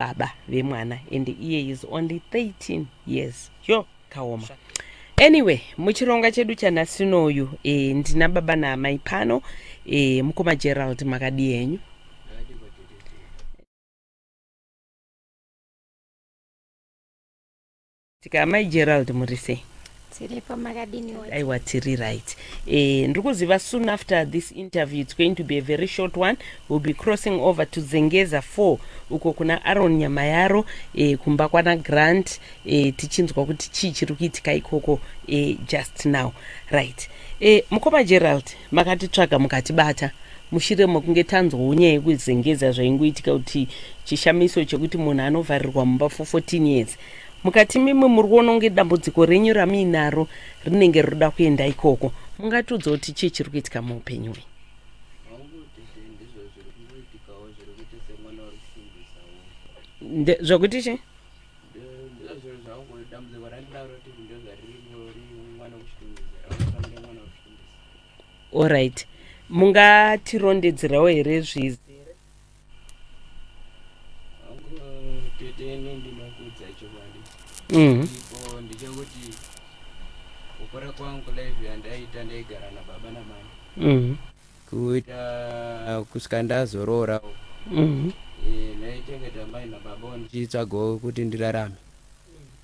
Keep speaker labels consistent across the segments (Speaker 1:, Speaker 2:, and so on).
Speaker 1: baba vemwana and iye is only 13 years yo kaoma anyway muchironga chedu chanasinoyu e, eh, ndina baba naamai pano e, mukoma gerald makadii henyu Tika amai Gerald murisei? Tiripo makadini wati? Aiwa tiri right. Eh, ndiri kuziva soon after this interview it's going to be a very short one. We'll be crossing over to Zengeza 4 uko kuna Aaron Nyamayaro eh, kumba kwana Grant eh, tichinzwa kuti chii chiri kuitika ikoko eh, just now. Right. Eh, mukoma Gerald makatitsvaga mukatibata mushure mekunge tanzwawo nyaya yekuzengeza zvaingoitika kuti chishamiso chekuti munhu anovharirwa mumba for 14 years mukati mimwe muri kuona kunge dambudziko renyu ramuinaro rinenge rinoda kuenda ikoko mungatiudza kuti chii chiri kuitika muupenyu hwenyu zvokuti chii allright mungatirondedzerawo here zvizere
Speaker 2: Mm. kukura kwangu live yandaita ndaigara nababa namai mm. kuita uh, kusvika ndazoroora mm. e, eh, ndaichengeta mai nababa ndichitsvagawo kuti ndirarame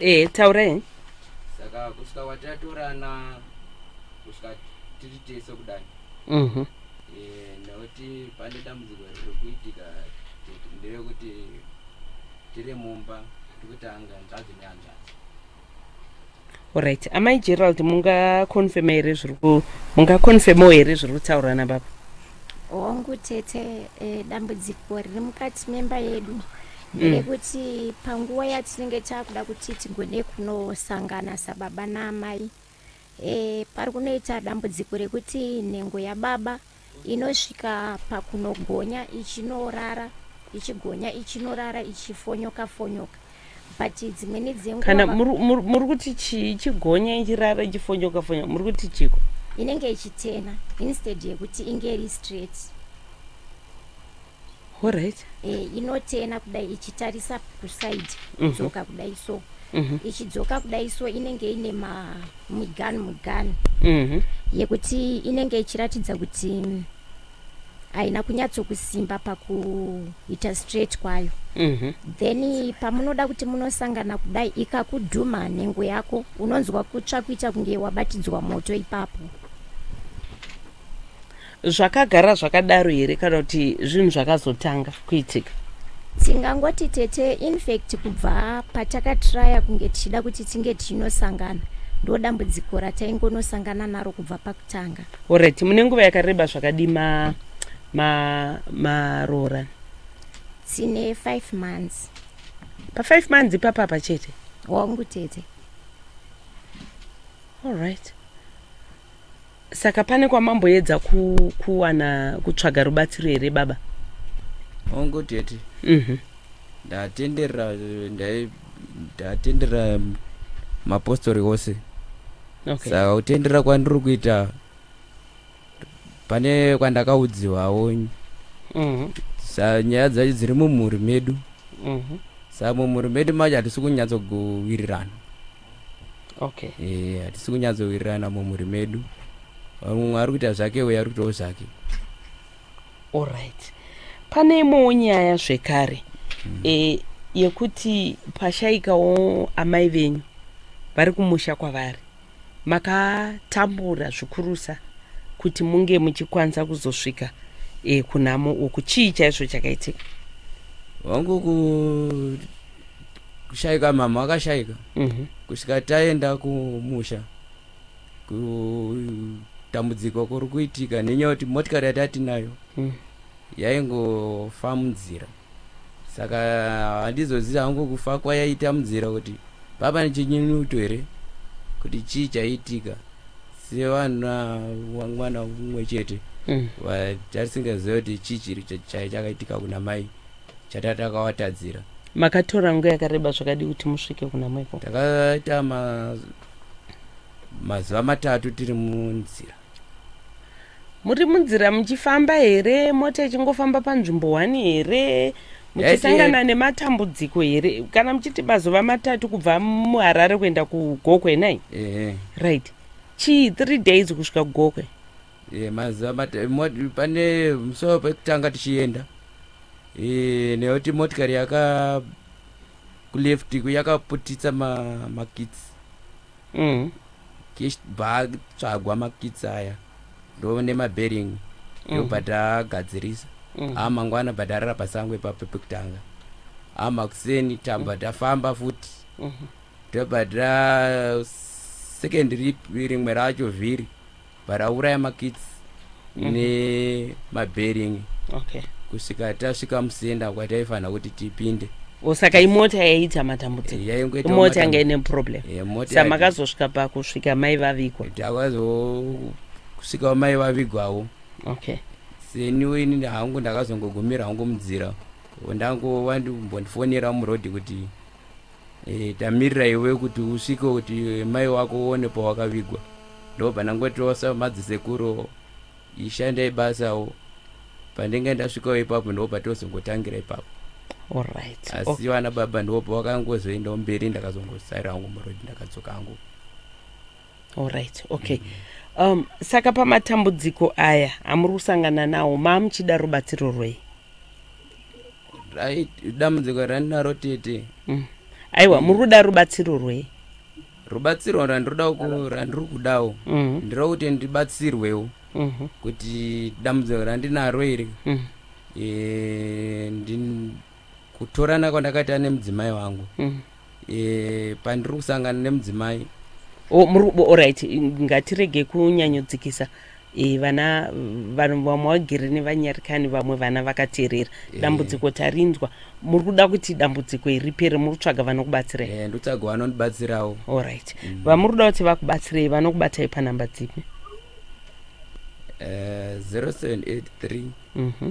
Speaker 1: ehe taurai saka
Speaker 2: kusvika kwatatorana kusvika tiri tese kudai Mhm. Eh, nekuti pane dambudziko riri kuitika te- nderekuti tiri mumba tiri kutanga hanzvadzi nehanzvadzi Alright,
Speaker 1: amai Gerald mungakonfema here zviri ku mungakonfemawo here zviri kutaurwa nababa? Hongu
Speaker 3: tete, eh, dambudziko riri mukati memba yedu mm. nderekuti mm. panguva yatinenge takuda kuti tigone kunosangana sababa naamai eh, pari kunoita dambudziko rekuti nhengo yababa mm. Inosvika pakunogonya ichinorara ichigonya ichinorara ichifonyoka fonyoka but dzimweni dzenguva kana muri
Speaker 1: kuti chii ichigonya ichirara ichifonyoka fonyoka muri kuti chiko inenge ichitena
Speaker 3: instead yekuti inge iri straight
Speaker 1: Alright. Eh, inotena
Speaker 3: kudai ichitarisa kuside mhm. kudzoka mm -hmm. kudai so mm -hmm. ichidzoka kudai so inenge ine mugani mugani mm -hmm. yekuti inenge ichiratidza kuti haina kunyatsokusimba pakuita straight kwayo mm -hmm. then pamunoda kuti munosangana kudai ikakudhuma nhengo yako unonzwa kutsva kuita kunge wabatidzwa moto ipapo
Speaker 1: zvakagara zvakadaro here kana kuti zvinhu zvakazotanga kuitika tingangoti
Speaker 3: tete infact kubva patakatraya kunge tichida kuti tinge tichinosangana ndo dambudziko rataingonosangana naro kubva pakutanga orit mune nguva
Speaker 1: yakareba zvakadi maroora ma, ma tine
Speaker 3: five months pafive
Speaker 1: months ipapapa chete wangu tete allright saka pane kwamamboedza kuwana kutsvaga rubatsiro here baba hongu
Speaker 2: tete mhm. ndatenderera ndatenderera mapostori ose okay. saka
Speaker 1: kutenderera
Speaker 2: kwandiri kuita pane kwandakaudziwawo mhm. sa nyaya dzacho dziri mumhuri medu mhm. sa mumhuri medu macho hatisi kunyatsokuwirirana
Speaker 1: okay eh hatisi
Speaker 2: kunyatsowirirana mumhuri medu mumwe ari kuita zvake uye ari kuitawo zvake alright
Speaker 1: pane imwewo nyaya zvekare mm. e, yekuti pashaikawo amai venyu vari kumusha kwavari makatambura zvikurusa kuti munge muchikwanisa kuzosvika e, kunhamo uku chii chaizvo chakaitika wangu ku
Speaker 2: kushaika mama akashaika mhm. kusvika taenda kumusha kutambudziko kuri kuitika nenyaya kuti motikari yatatinayo mhm. yaingofa munzira saka handizoziva hangu kufa kwayaita munzira kuti papa nechinyinuto here kuti chii chaiitika sevana mwana umwe chete mm. vatisingaziva kuti chii chiri chaichakaitika kuna mai chatatakawatadzira makatora
Speaker 1: nguva yakareba zvakadii kuti musvike kuna mweko takaita
Speaker 2: mazuva matatu tiri munzira
Speaker 1: muri munzira muchifamba here mota ichingofamba panzvimbo one here muchisangana nematambudziko here kana muchiti mazuva matatu kubva muharare kuenda kugokwe nai right chii three days kusvika kugokwe Eh, mazuva
Speaker 2: mata- mo- pane musoro pekutanga tichienda eh, nekuti motikari yaka kuleft ku- yakaputitsa ma- makits Mm. kichibva tsvagwa makits aya ndo nemabering Mhm. ndobva tagadzirisa Mhm. a mangwana bva tarara pasango ipapo pekutanga a makuseni tabva tafamba futi Mhm. tobva ta second rip rimwe racho vhiri but auraya makits mm -hmm. nemabering okay. kusvika tasvika musenda kwataifanira kuti tipinde o saka imota
Speaker 1: yaiita matambudzikoimota yanga ine problem sa makazosvika pakusvika mai vavigwa takazosvikawo
Speaker 2: mai vavigwawo okay seniwe inini hangu ndakazongogumira hangu munzira ndangovandimbondifonera muroad kuti E, tamirira iwe kuti usvike kuti mai wako uone pawakavigwa ndobva ndangotirosa madzisekuru ishandai basawo pandenge ndasvikawo ipapo ndobva tozongotangira ipapo Alright.
Speaker 1: asi Okay. vana baba
Speaker 2: ndobva vakangozoendawo mberi ndakazongosarira hangu murodhi ndakadzoka hangu
Speaker 1: Alright. Okay. Um, saka pamatambudziko aya amuri kusangana nawo maamuchida rubatsiro rwei?
Speaker 2: dambudziko randinaro tete mm. aiwa
Speaker 1: muri kuda rubatsiro rwei rubatsiro
Speaker 2: randinoda randiri kudawo mm. ndiro kuti ndibatsirwewo mm-hmm. kuti dambudziko randinaro iri mm. e, kutorana kwandakaita nemudzimai wangu mm. eh, pandiri kusangana nemudzimai O- muri- bo-
Speaker 1: alright ngatirege kunyanyodzikisa Eh, vana vanhu vamwe vagere nevanyarikani vamwe vana vakateerera Eh. dambudziko tarinzwa muri kuda kuti dambudziko iri ripere muri kutsvaga vanokubatsirai eh, ndotsvaga vanondibatsirawo
Speaker 2: alright Mm.
Speaker 1: vamuri kuda kuti vakubatsirei vanokubatai panhamba dzipi eh, 0783 Mhm.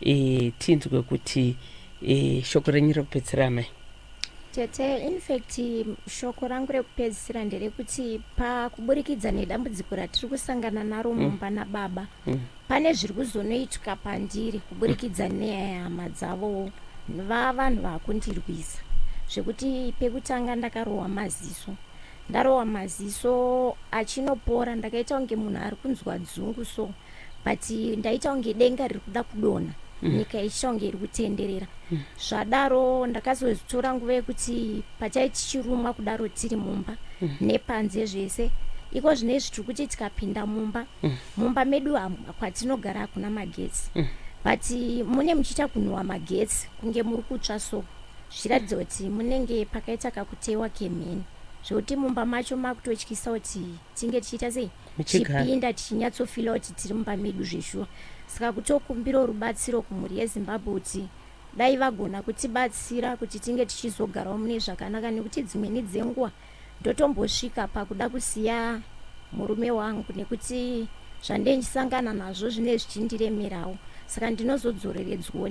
Speaker 1: e, tinzwe kuti e, shoko renyu rekupedzisira amai tete
Speaker 3: infact shoko rangu rekupedzisira nderekuti pakuburikidza nedambudziko ratiri kusangana naro mm. mumba mm. nababa mm. pane zviri kuzonoitwa pandiri kuburikidza mm. neya yehama dzavowo vavanhu vakundirwisa zvekuti pekutanga ndakarohwa maziso ndarohwa maziso achinopora ndakaita kunge munhu ari kunzwa dzungu so but ndaita kunge denga riri kuda kudonha mm. nyika ichiita kunge iri kutenderera mm. zvadaro ndakazotora nguva yekuti patai tichirumwa kudaro tiri mumba mm. nepanze zvese iko zvine izvi tiri kuti tikapinda mumba mm. mumba medu kwatinogara hakuna magetsi mm. but mune muchiita kunhuwa magetsi kunge muri kutsva so zvichiratidza kuti munenge pakaita kakutewa kemheni zvekuti mumba macho makutotyisawo kuti tinge tichiita sei tichipinda tichinyatsofila kuti tiri mumba medu zveshuwa saka kutokumbirawo rubatsiro kumhuri yezimbabwe kuti dai vagona kutibatsira kuti tinge tichizogarawo mune zvakanaka nekuti dzimweni dzenguva ndotombosvika pakuda kusiya murume wangu nekuti zvandendisangana nazvo zvine zvichindiremerawo saka ndinozodzoreredzwoni